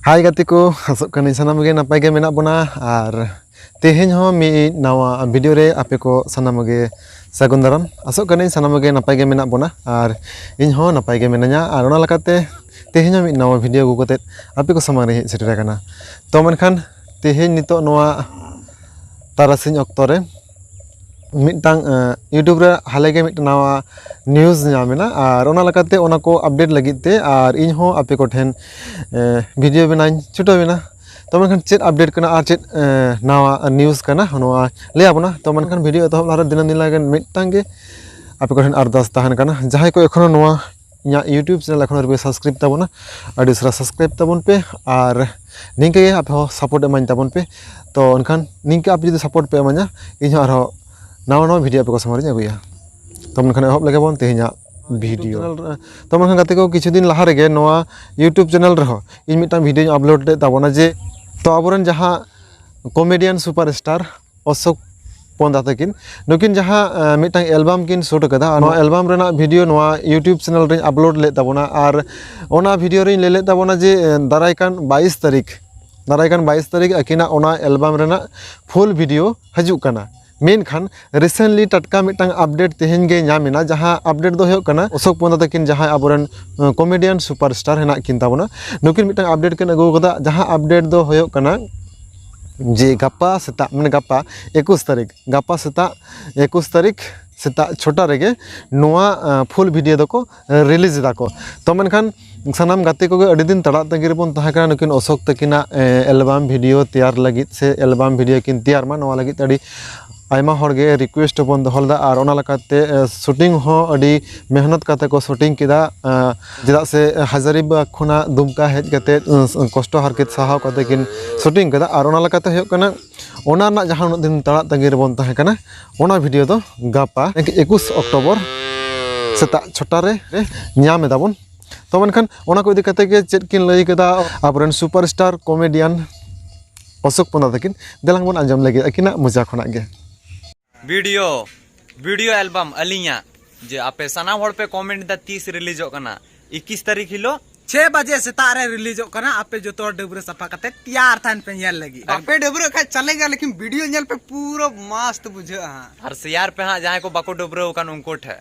ᱦᱟᱭ ᱜᱟᱛᱮ ᱠᱚ ᱟᱥᱚᱜ ᱠᱟᱹᱱᱟᱹᱧ ᱥᱟᱱᱟᱢ ᱜᱮ ᱱᱟᱯᱟᱭ ᱜᱮ ᱢᱮᱱᱟᱜ ᱵᱚᱱᱟ ᱟᱨ ᱛᱮᱦᱮᱧ ᱦᱚᱸ ᱢᱤᱫ ᱱᱟᱣᱟ ᱵᱷᱤᱰᱤᱭᱳ ᱨᱮ ᱟᱯᱮ ᱠᱚ ᱥᱟᱱᱟᱢ ᱜᱮ ᱥᱟᱹᱜᱩᱱ ᱫᱟᱨᱟᱢ ᱟᱥᱚᱜ ᱠᱟᱹᱱᱟᱹᱧ ᱥᱟᱱᱟᱢ ᱜᱮ ᱱᱟᱯᱟᱭ ᱜᱮ ᱢᱮᱱᱟᱜ ᱵᱚᱱᱟ ᱟᱨ ᱤᱧ ᱦᱚᱸ ᱱᱟᱯᱟᱭ ᱜᱮ ᱢᱤᱱᱟᱹᱧᱟ ᱟᱨ ᱚᱱᱟ ᱞᱮᱠᱟᱛᱮ ᱛᱮᱦᱮᱧ ᱦᱚᱸ ᱢᱤᱫ ᱱᱟᱣᱟ ᱵᱷᱤᱰᱤᱭᱳ ᱟᱹᱜᱩ ᱠᱟᱛᱮ ᱟᱯᱮ ᱠᱚ ᱥᱟᱢᱟᱝ ᱨᱮ ᱦᱮᱡ ᱥᱮᱴᱮᱨ ᱟᱠᱟᱱᱟ ᱛᱚ ᱢᱮᱱᱠᱷᱟᱱ ᱛᱮᱦᱮᱧ ᱱᱤᱛᱚᱜ ᱱᱚᱣᱟ ᱛᱟᱨᱟᱥᱤᱧ ᱚᱠᱛᱚ ᱨᱮ ᱢᱤᱫᱴᱟᱝ ᱤᱭᱩᱴᱩᱵᱽ ᱨᱮ ᱦᱟᱞᱮ ᱜᱮ ᱢᱤᱫᱴᱟᱝ ᱱᱟᱣᱟ ᱱᱤᱭᱩᱡᱽ ᱧᱟᱢ ᱮᱱᱟ ᱟᱨ ᱚᱱᱟ ᱞᱮᱠᱟᱛᱮ ᱚᱱᱟ ᱠᱚ ᱟᱯᱰᱮᱴ ᱞᱟᱹᱜᱤᱫ ᱛᱮ ᱟᱨ ᱤᱧ ᱦᱚᱸ ᱟᱯᱮ ᱠᱚᱴᱷᱮᱱ ᱵᱷᱤᱰᱤᱭᱳ ᱵᱮᱱᱟᱣ ᱤᱧ ᱪᱷᱩᱴᱟᱹᱣ ᱮᱱᱟ ᱛᱚ ᱢᱮᱱᱠᱷᱟᱱ ᱪᱮᱫ ᱟᱯᱰᱮᱴ ᱠᱟᱱᱟ ᱟᱨ ᱪᱮᱫ ᱱᱟᱣᱟ ᱱᱤᱭᱩᱡᱽ ᱠᱟᱱᱟ ᱱᱚᱣᱟ ᱞᱟᱹᱭ ᱟᱵᱚᱱᱟ ᱛᱚ ᱢᱮᱱᱠᱷᱟᱱ ᱵᱷᱤᱰᱤᱭᱳ ᱮᱛᱚᱦᱚᱵ ᱞᱟᱦᱟᱨᱮ ᱫᱤᱱᱟᱹᱢ ᱫᱤᱱ ᱞᱟᱹᱜᱤᱫ ᱢᱤᱫᱴᱟᱝ ᱜᱮ ᱟᱯᱮ ᱠᱚᱴᱷᱮᱱ ᱟᱨᱫᱟᱥ ᱛᱟᱦᱮᱱ ᱠᱟᱱᱟ ᱡᱟᱦᱟᱸᱭ ᱠᱚ ᱮᱠᱷᱚᱱᱳ ᱱᱚᱣᱟ ᱤᱧᱟᱹᱜ ᱤᱭᱩᱴᱩᱵᱽ ᱪᱮᱱᱮᱞ ᱮᱠᱷᱚᱱᱳ ᱟᱹᱣᱨᱤᱯᱮ ᱥᱟᱵᱥᱠᱨᱟᱭᱤᱵᱽ ᱛᱟᱵᱚᱱᱟ ᱟᱹᱰᱤ ᱩᱥᱟᱹᱨᱟ ᱥᱟᱵᱥᱠᱨᱟᱭᱤᱵᱽ ᱛᱟᱵᱚᱱ ᱯᱮ ᱟᱨ ᱱᱤᱝᱠᱟᱹ ᱜᱮ ᱟᱯᱮ ᱦᱚᱸ ᱥᱟᱯᱳᱨᱴ ᱤᱢᱟᱹᱧ ᱛᱟᱵᱚᱱ ᱯᱮ ᱛᱳ ᱮᱱᱠᱷᱟᱱ ᱱᱤᱝᱠᱟᱹ ᱟᱯᱮ ᱡᱩᱫᱤ ᱥᱟᱯᱳᱨᱴ ᱯᱮ ᱤᱢᱟᱹᱧᱟ ᱤᱧᱦᱚᱸ ᱟᱨᱦᱚᱸ ᱱᱟᱣᱟ ᱱᱟᱣᱟ ᱵᱷᱤᱰᱭᱳ ᱟᱯᱮ ᱠᱚ ᱥᱟᱢᱟᱝ ᱨᱤᱧ ᱟᱹᱜᱩᱭᱟ ᱛᱳ ᱢᱮᱱᱠᱷᱟᱱ ᱮᱦᱚᱵ ᱞᱮᱜᱮ ᱵᱚᱱ ᱛᱮᱦᱮᱧᱟᱜ ᱵᱷᱤᱰᱭᱳ ᱛᱳ ᱢᱮᱱᱠᱷᱟᱱ ᱜᱟᱛᱮ ᱠᱚ ᱠᱤᱪᱷᱩ ᱫᱤᱱ ᱞᱟᱦᱟ ᱨᱮᱜᱮ ᱱᱚᱣᱟ ᱤᱭᱩᱴᱩᱵᱽ ᱪᱮᱱᱮᱞ ᱨᱮᱦᱚᱸ ᱤᱧ ᱢᱤᱫᱴᱟᱱ ᱵᱷᱤᱰᱭᱳᱧ ᱟᱯᱞᱳᱰ ᱞᱮᱫ ᱛᱟᱵᱚᱱᱟ ᱡᱮ ᱛᱳ ᱟᱵᱚ ᱨᱮᱱ ᱡᱟᱦᱟᱸ comedian superstar Ashok Panda ᱛᱟᱹᱠᱤᱱ ᱱᱩᱠᱤᱱ ᱡᱟᱦᱟᱸ ᱢᱤᱫᱴᱟᱝ ᱮᱞᱵᱟᱢ ᱠᱤᱱ ᱥᱩᱴ ᱟᱠᱟᱫᱟ ᱱᱚᱣᱟ ᱮᱞᱵᱟᱢ ᱨᱮᱱᱟᱜ ᱵᱷᱤᱰᱤᱭᱳ ᱱᱚᱣᱟ ᱤᱭᱩᱴᱩᱵᱽ ᱪᱮᱱᱮᱞ ᱨᱮᱧ ᱟᱯᱞᱳᱰ ᱞᱮᱫ ᱛᱟᱵᱚᱱᱟ ᱟᱨ ᱚᱱᱟ ᱵᱷᱤᱰᱤᱭᱳ ᱨᱮᱧ ᱞᱟᱹᱭ ᱞᱮᱫ ᱛᱟᱵᱚᱱᱟ ᱡᱮ ᱫᱟᱨᱟᱭ ᱠᱟᱱ ᱵᱟᱭᱤᱥ ᱛᱟᱹᱨᱤᱠᱷ ᱫᱟᱨᱟᱭ ᱠᱟᱱ ᱵᱟᱭᱤᱥ ᱛᱟᱹᱨᱤᱠᱷ ᱟᱹᱠᱤᱱᱟᱜ ᱚᱱᱟ ᱮᱞᱵᱟᱢ ᱨᱮᱱᱟᱜ ᱯᱷᱩᱞ ᱵᱷᱤᱰᱤᱭᱳ ᱦᱤᱡᱩᱜ ᱠᱟᱱᱟ ᱢᱮᱱᱠᱷᱟᱱ ᱨᱤᱥᱮᱱᱴᱞᱤ ᱴᱟᱴᱠᱟ ᱢᱤᱫᱴᱟᱝ ᱟᱯᱰᱮᱴ ᱛᱮᱦᱮᱧ ᱜᱮ ᱧᱟᱢ ᱮᱱᱟ ᱡᱟᱦᱟᱸ ᱟᱯᱰᱮᱴ ᱫᱚ ᱦᱩᱭᱩᱜ ᱠᱟᱱᱟ ᱚᱥᱳᱠ ᱯᱚᱱᱫᱟ ᱛᱟᱹᱠᱤᱱ ᱡᱟᱦᱟᱸᱭ ᱟᱵᱚᱨᱮᱱ ᱠᱚᱢᱮᱰᱤᱭᱟᱱ ᱥᱩᱯᱟᱨ ᱥᱴᱟᱨ ᱦᱮᱱᱟᱜ ᱠᱤᱱ ᱛᱟᱵᱚᱱᱟ ᱱᱩᱠᱤᱱ ᱢᱤᱫᱴᱟᱝ ᱟᱯᱰᱮᱴ ᱠᱤᱱ ᱟᱹᱜᱩ ᱟᱠᱟᱫᱟ ᱡᱟᱦᱟᱸ ᱟᱯᱰᱮᱴ ᱫᱚ ᱦᱩᱭᱩᱜ ᱠᱟᱱᱟ ᱡᱮ ᱜᱟᱯᱟ ᱥᱮᱛᱟᱜ ᱢᱟᱱᱮ ᱜᱟᱯᱟ ᱮᱠᱩᱥ ᱛᱟᱹᱨᱤᱠᱷ ᱜᱟᱯᱟ ᱥᱮᱛᱟᱜ ᱮᱠᱩᱥ ᱛᱟᱹᱨᱤᱠᱷ ᱥᱮᱛᱟᱜ ᱪᱷᱚᱴᱟ ᱨᱮᱜᱮ ᱱᱚᱣᱟ ᱯᱷᱩᱞ ᱵᱷᱤᱰᱤᱭᱳ ᱫᱚᱠᱚ ᱨᱤᱞᱤᱡᱽ ᱫᱟᱠᱚ ᱛᱚ ᱢᱮᱱᱠᱷᱟᱱ ᱥᱟᱱᱟᱢ ᱜᱟᱛᱮ ᱠᱚᱜᱮ ᱟᱹᱰᱤ ᱫᱤᱱ ᱛᱟᱲᱟᱜ ᱛᱟᱺᱜᱤ ᱨᱮᱵᱚᱱ ᱛᱟᱦᱮᱸ ᱠᱟᱱᱟ ᱱᱩᱠᱤᱱ ᱚᱥᱳᱠ ᱛᱟᱹᱠᱤᱱᱟᱜ ᱮᱞᱵᱟᱢ ᱵᱷᱤᱰᱤᱭᱳ ᱛᱮᱭᱟᱨ ᱞᱟᱹᱜᱤᱫ ᱥᱮ ᱮᱞᱵᱟᱢ ᱵᱷᱤᱰᱤᱭᱳ ᱠᱤᱱ ᱛᱮᱭᱟᱨ ᱢᱟ ᱱᱚᱣᱟ ᱞᱟᱹᱜᱤᱫ ᱛᱮ ᱟᱹᱰᱤ ᱟᱭᱢᱟ ᱦᱚᱲ ᱜᱮ ᱨᱤᱠᱩᱭᱮᱥᱴ ᱦᱚᱸ ᱵᱚᱱ ᱫᱚᱦᱚ ᱞᱮᱫᱟ ᱟᱨ ᱚᱱᱟ ᱞᱮᱠᱟᱛᱮ ᱥᱩᱴᱤᱝ ᱦᱚᱸ ᱟᱹᱰᱤ ᱢᱮᱦᱱᱚᱛ ᱠᱟᱛᱮ ᱠᱚ ᱥᱩᱴᱤᱝ ᱠᱮᱫᱟ ᱪᱮᱫᱟᱜ ᱥᱮ ᱦᱟᱡᱟᱨᱤᱵᱟᱜᱽ ᱠᱷᱚᱱᱟᱜ ᱫᱩᱢᱠᱟ ᱦᱮᱡ ᱠᱟᱛᱮ ᱠᱚᱥᱴᱚ ᱦᱟᱨᱠᱮᱛ ᱥᱟᱦᱟᱣ ᱠᱟᱛᱮ ᱠᱤᱱ ᱥᱩᱴᱤᱝ ᱠᱟᱫᱟ ᱟᱨ ᱚᱱᱟ ᱞᱮᱠᱟᱛᱮ ᱦᱩᱭᱩᱜ ᱠᱟᱱᱟ ᱚᱱᱟ ᱨᱮᱱᱟᱜ ᱡᱟᱦᱟᱸ ᱩᱱᱟᱹᱜ ᱫᱤᱱ ᱛᱟᱲᱟᱜ ᱛᱟᱺᱜᱤ ᱨᱮᱵᱚᱱ ᱛᱟᱦᱮᱸ ᱠᱟᱱᱟ ᱚᱱᱟ ᱵᱷᱤᱰᱤᱭᱳ ᱫᱚ ᱜᱟᱯᱟ ᱮᱠᱩᱥ ᱚᱠᱴᱳᱵᱚᱨ ᱥᱮᱛᱟᱜ ᱪᱷᱚᱴᱟ ᱨᱮ ᱧᱟᱢ ᱮᱫᱟ ᱵᱚᱱ ᱛᱚ ᱢᱮᱱᱠᱷᱟᱱ ᱚᱱᱟ ᱠᱚ ᱤᱫᱤ ᱠᱟᱛᱮ ᱜᱮ ᱪᱮᱫ ᱠᱤᱱ ᱞᱟᱹᱭ ᱠᱟᱫᱟ ᱟᱵᱚᱨᱮᱱ superstar comedian Ashok Panda ᱛᱟᱹᱠᱤᱱ ᱫᱮᱞᱟᱝ ᱵᱚᱱ ᱟᱸᱡᱚᱢ ᱞᱟᱹᱜᱤᱫ ᱟᱹᱠᱤᱱᱟᱜ ᱢᱚᱡᱟ ᱠᱷᱚᱱᱟᱜ ᱜᱮ ᱵᱷᱤᱰᱤᱭᱳ ᱵᱷᱤᱰᱤᱭᱳ ᱮᱞᱵᱟᱢ ᱟᱹᱞᱤᱧᱟᱜ ᱡᱮ ᱟᱯᱮ ᱥᱟᱱᱟᱢ ᱦᱚᱲ ᱯᱮ ᱠᱚᱢᱮᱱᱴ ᱫᱟ ᱛᱤᱥ ᱨᱤᱞᱤᱡᱚᱜ ᱠᱟᱱᱟ ᱤᱠᱤᱥ ᱛᱟᱹᱨᱤᱠᱷ ᱦᱤᱞᱳᱜ ᱪᱷᱮ ᱵᱟᱡᱮ ᱥᱮᱛᱟᱜ ᱨᱮ ᱨᱤᱞᱤᱡᱚᱜ ᱠᱟᱱᱟ ᱟᱯᱮ ᱡᱚᱛᱚ ᱦᱚᱲ ᱰᱟᱹᱵᱽᱨᱟᱹ ᱥᱟᱯᱷᱟ ᱠᱟᱛᱮ ᱛᱮᱭᱟᱨ ᱛᱟᱦᱮᱱ ᱯᱮ ᱧᱮᱞ ᱞᱟᱹᱜᱤᱫ ᱟᱯᱮ ᱰᱟᱹᱵᱽᱨᱟᱹ ᱠᱷᱟᱡ ᱪᱟᱞᱮᱜᱟ ᱞᱮᱠᱤᱱ ᱵᱷᱤᱰᱤᱭᱳ ᱧᱮᱞ ᱯᱮ ᱯᱩᱨᱟᱹ ᱢᱟᱥᱛ ᱵᱩᱡᱷᱟᱹᱜᱼᱟ ᱟᱨ ᱥᱮᱭᱟᱨ ᱯᱮ ᱦᱟᱸᱜ ᱡᱟᱦᱟᱸᱭ ᱠᱚ ᱵᱟᱠᱚ ᱰᱟᱹᱵᱽᱨᱟᱹᱣ ᱟᱠᱟᱱ ᱩᱱᱠᱩ ᱴᱷᱮᱱ